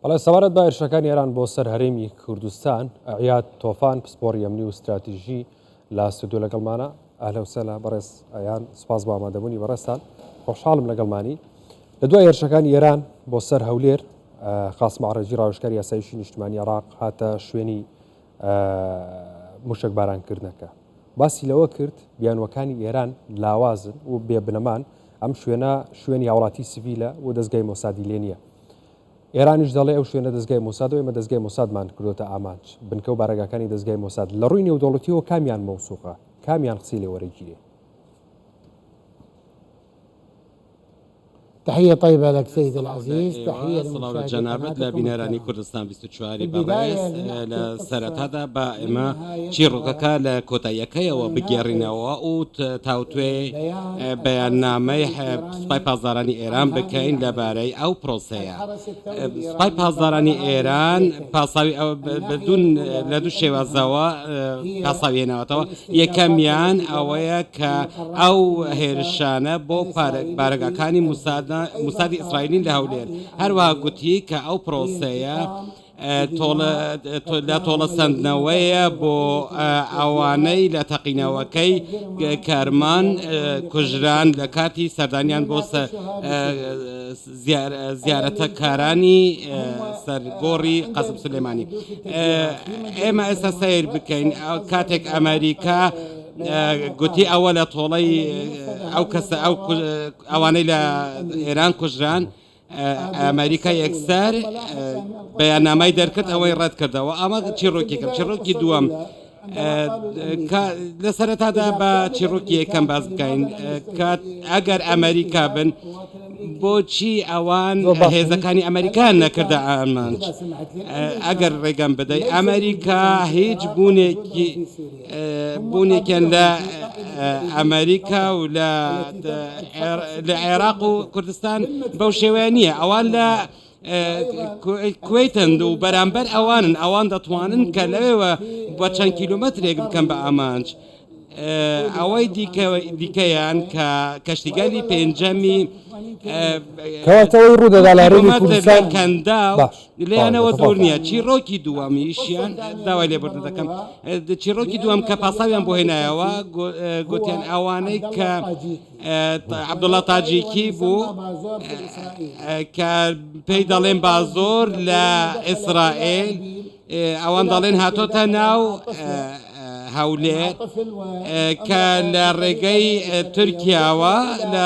بەڵێ سەبارەت بە هێرشەکانی ئێران بۆ سەر هەرێمی کوردستان ئەعیاد تۆفان پسپۆری ئەمنی و ستراتیژی لە ستودیو لەگەڵمانە ئەهلا وسهلا بەڕێز ئەیان سپاس بۆ ئامادەبوونی بەڕێزتان خۆشحاڵم لەگەڵمانی لە دوای هێرشەکانی ئێران بۆ سەر هەولێر خاص مەعڕێجی ڕاوشکاری یاسایشی نیشتمانی عراق هاتە شوێنی موشک بارانکردنەکە باسی لەوە کرد بیانوەکانی ئێران لاوازن و بێبنەمان ئەم شوێنە شوێنی هاوڵاتی سڤیلە و دەستگای مۆسادی لێ نییە ئێرانیش دەڵێ ئەو شوێنە دەزگای مۆسادە و ئێمە دەزگای مۆسادمان کردۆتە ئامانج، بنکە و بارەگاکانی دەزگای مۆساد لە ڕووی نێودەوڵەتیەوە کامیان مەوسوقە؟ کامیان قسەی لێ وەرەگیرێ؟ تحیە طیبە لەک سید العزیز تحیە لە مشاهدە قناتکم الکرام. چواری بەڕێز لە سەرەتادا با ئێمە چیڕۆکەکە لە کۆتاییەکەیەوە بگێڕینەوە و تاوتوێ بەیاننامەی سوپای پاسدارانی ئێران بکەین لەبارەی ئەو پرۆسەیە سوپای پاسدارانی ئێران پاساوی بدون لە دوو شێوازەوە پاساویێنەوەتەوە یەکەمیان ئەوەیە کە ئەو هێرشانە بۆ بارەگاکانی موسادی ئیسرائیلین لە هەولێر هەروەها گوتی کە ئەو پرۆسەیە لە تۆڵەسەندنەوەیە بۆ ئەوانەی لە تەقینەوەکەی کەرمان کوژران لە کاتی سەردانیان بۆ زیارەتەکارانی سەر گۆڕی قەسپ سلێمانی ئێمە ئێستا سیر بکەین کاتێک ئەمریکا گوتی ئەوە لە تۆڵەی ئەو کەسە ئەو ئەوانەی لە ئێران کوژران ئەمریکا یەکسەر بەیاننامای دەرکرد ئەوەی ڕەت کردەوە ئەمە چیڕۆکێکم چیڕۆکی دووەم لە سەرەتادا بە چیڕۆکی یەکەم باز بکەین کات ئەگەر ئەمریکا بن بۆچی ئەوان هێزەکانی ئەمریکان نەکردە ئامانج ئەگەر ڕێگەم بدەیت ئەمریکا هیچ بوونێکی بوونێکیان لە ئەمەریکا و لە عێراق و کوردستان بەو شێوەیە نییە ئەوان لە کوێتن و بەرامبەر ئەوانن ئەوان دەتوانن کە لەوێوە بە چەند کیلومەترێک بکەم بە ئامانج ئەوەی دیکەیان کە کەشتیگەلی پێنجەمی کەواتەوەی ڕوودەدا لە هەرێمی کوردستان کەندا باش لێیانەوە دوور نییە چیڕۆکی دووەمیشیان داوای لێبوردن دەکەم چیڕۆکی دووەم کە پاساویان بۆ هێنایەوە گوتیان ئەوانەی کە عبدوڵە تاجیکی بوو کە پێی دەڵێن با زۆر لە ئیسرائیل ئەوان دەڵێن هاتۆتە ناو هەولێر کە لە ڕێگەی تورکیاوە لە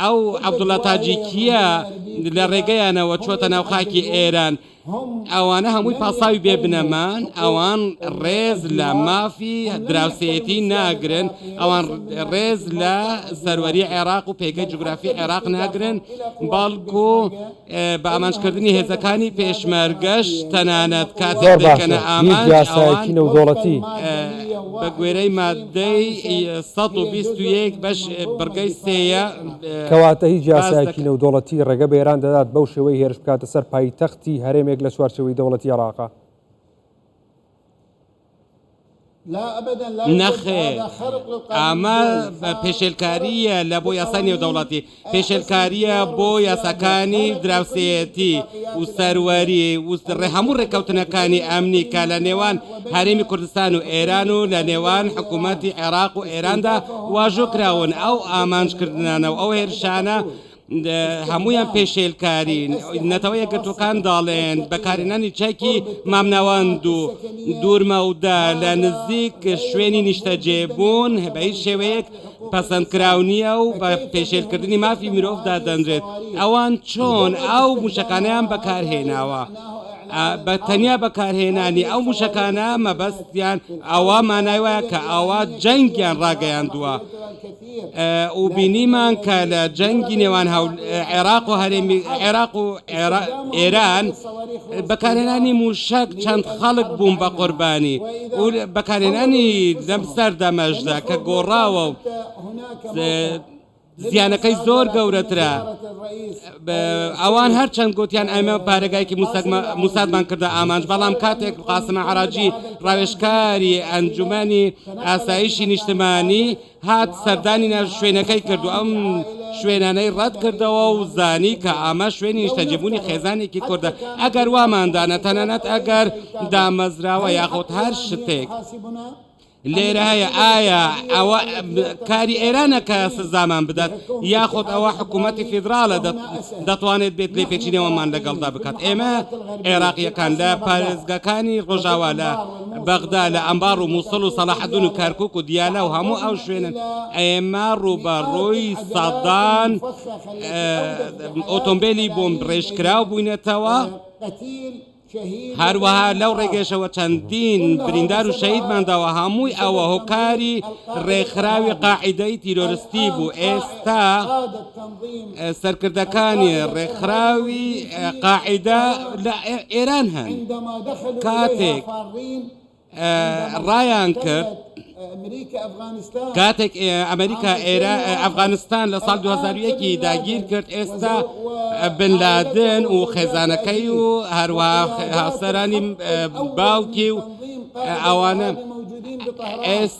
ئەو عەبدوڵا تاجیکییە لە ڕێگەیانەوە چۆتە ناو خاکی ئێران ئەوانە هەمووی پاساوی بێ بنەمان ئەوان ڕێز لە مافی دراوسێتی ناگرن ئەوان ڕێز لە سەروەری عێراق و پێگە جوگرافی عێراق ناگرن بەڵکو بە ئامانجکردنی هێزەکانی پێشمەرگەش تەنانەت کاتێک دەیکەنە ئامانج ئەوان بە گوێرەی ماددەی سەد و بیست و یەک بەش بڕگەی سێیە کەواتە هیچ یاسایەکی نێودەوڵەتی ڕێگە بە ئێران دەدات بەو شێوەی هێرش بکاتە سەر پایتەختی هەرێمێک لە چوارچێوەی دەوڵەتی عێراقە. نەخێر ئەمە پێشێلکارییە لە بۆ یاسای نێودەوڵەتی پێشێلکارییە بۆ یاساکانی دراوسێتی و سەروەری وستڕێ هەموو ڕێککەوتنەکانی ئەمنی کە لە نێوان هەرێمی کوردستان و ئێران و لە نێوان حکوومەتتی عێراق و ئێراندا واژۆ کراون ئەو ئامانجکردنانە و ئەو هێرشانە هەموویان پێشێلکارین نەتەوە یەکگرتووەکان داڵێن بەکارێنانی چاکی مامناواند و دوورمەودە لە نزیک شوێنی نیشتەجێ بوون بە هیچ شێوەیەک پەسەندکراو نییە و بە پێشێلکردنی مافی مرۆڤ دادەنرێت ئەوان چۆن ئەو موشەکانیان بەکارهێناوە. بە تەنیا بەکارهێنانی ئەو موشەکانە مەبەستیان ئەوە مانای وایە کە ئەوە جەنگیان ڕاگەیاندووە و بینیمان کە لە جەنگی نێوان عێراق و هەرێمی عێراق و ئێران بەکارهێنانی موشەک چەند خەڵک بووم بە قوربانی و بەکارهێنانی لەم سەردەمەشدا کە گۆڕاوە و زیانەکەی زۆر گەورەترە ئەوان هەر چەند گوتیان ئەمە پارێگایکی موسادمان کردە ئامانج بەڵام کاتێک قاسمە عراجی ڕاوێشکاری ئەنجومانی ئاسایشی نیشتمانی هات سەردانی شوێنەکەی کرد و ئەم شوێنانەی ڕەت کردەوە و زانی کە ئامە شوێنی نیشتەجێبوونی خێزانێکی کوردە ئەگەر واماندانە تەنانەت ئەگەر دامەزراوە یاخود هەر شتێک لێرە هەیە ئایا ئەوە کاری ئێرانە کە سزامان بدات یاخود ئەوە حکوومەتتی فیدراالە دەتوانێت بێت لێ پێچینەوەمان لەگەڵدا بکات ئێمە عێراقیەکان لە پارێزگەکانی ڕۆژاوا لە بەغدا لە ئەنبار و موسڵ و سەڵاحەدون و کەرکوک و دیالە و هەموو ئەو شوێنن ئێمە ڕووبەڕووی سەدان ئۆتۆمبیلی بۆمب ڕێژکراو بووینەتەوە هەروەها لەو ڕێگەشەوە چەندین بریندار و شەیدمان داوە هەمووی ئەوە هۆکاری ڕێکخراوی قاعدەی تیرۆرستی بوو ئێستا سەرکردەکانی ڕێکخراوی قاعدە لە ئێران هەن کاتێک ڕایان کرد کاتێک ئەمریکا ئێرا ئەفغانستان لە ساڵ 2001 داگیر کرد ئێستا بنلادن و خێزانەکەی و هەروە هاوسەرانی باوکی و ئەوانە ئێستا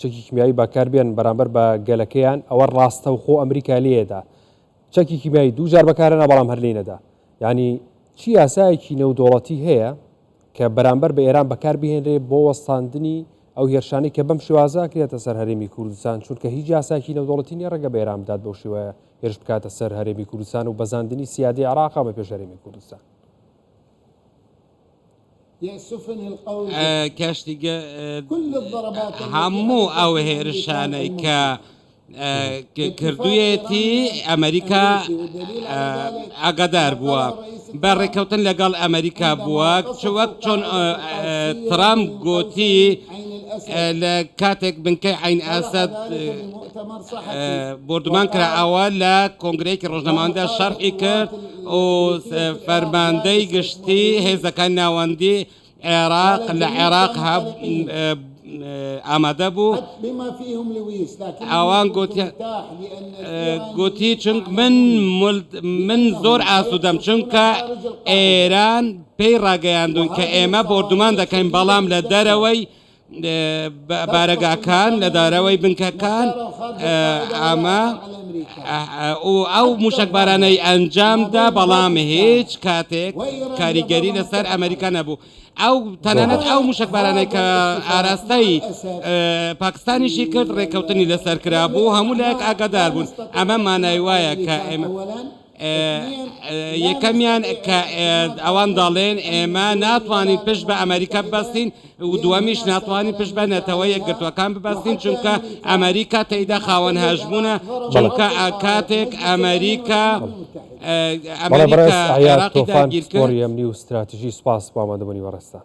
چەکی کیمیاوی بەکار بێن بەرامبەر بە گەلەکەیان ئەوە ڕاستە و خۆ ئەمریکا لێدا چەکی کیمیایی دوو جار بەکارەنا بەڵام هەر لینەدا ینی چی یاسایەکی نێودوڵەتی هەیە کە بەرامبەر بە ئێران بەکار بهێنرێ بۆ وەستاندنی ئەو هێرشانی کە بەم شێوازە کرێتە سەر هەرێمی کوردستان چونکە هیچ یاساکی نەودوڵەتی نیە ڕێگە بەێران بدات بەو شێوە هێرش بکاتە سەر هەرێمی کوردستان و بەزاندنی سیادی عراقا بە پێش هەرێمی کوردستان کاشتیگە هەموو ئەو هێرشانەی کە کردویەتی ئەمریکا ئاگادار بووە بە ڕێککەوتن لەگەڵ ئەمریکا بووە چوەک چۆن ترام گوتی لە کاتێک بنکەی عین ئاسد بردومان کرا ئەوە لە کۆنگرەیەکی ڕۆژنەماندا شەرحی کرد و فەرماندەی گشتی هێزەکانی ناوەندی عێراق لە عێراق ئامادە بوو ئەوان گوتی چونک من من زۆر ئاسوودەم چونکە ئێران پێی ڕاگەیاندون کە ئێمە بۆردومان دەکەین بەڵام لە دەرەوەی بارەگاکان لە دارەوەی بنکەکان ئەمە ئەو موشەکبارانەی ئەنجامدا بەڵام هیچ کاتێک کاریگەری لەسەر ئەمریکا نەبوو ئەو تەنانەت ئەو موشەکبارانەی کە ئاراستەی پاکستانیشی کرد ڕێککەوتنی لەسەر کرابوو هەموو لایەک ئاگادار بوون ئەمە مانای وایە کە ئێمە یەکەمیان کە ئەوان دەڵێن ئێمە ناتوانین پشت بە ئەمریکا بەستین و دووەمیش ناتوانین پشت بە نەتەوە یەکگرتوەکان ببەستین چونکە ئەمریکا تێیدا خاوەن هەژمونە چونکە کاتێک ئەمریکا ئەمریکاگیرکۆریەمنی و استراتیژی سپاس بۆ ئامادەبوونی بەڕێزتان.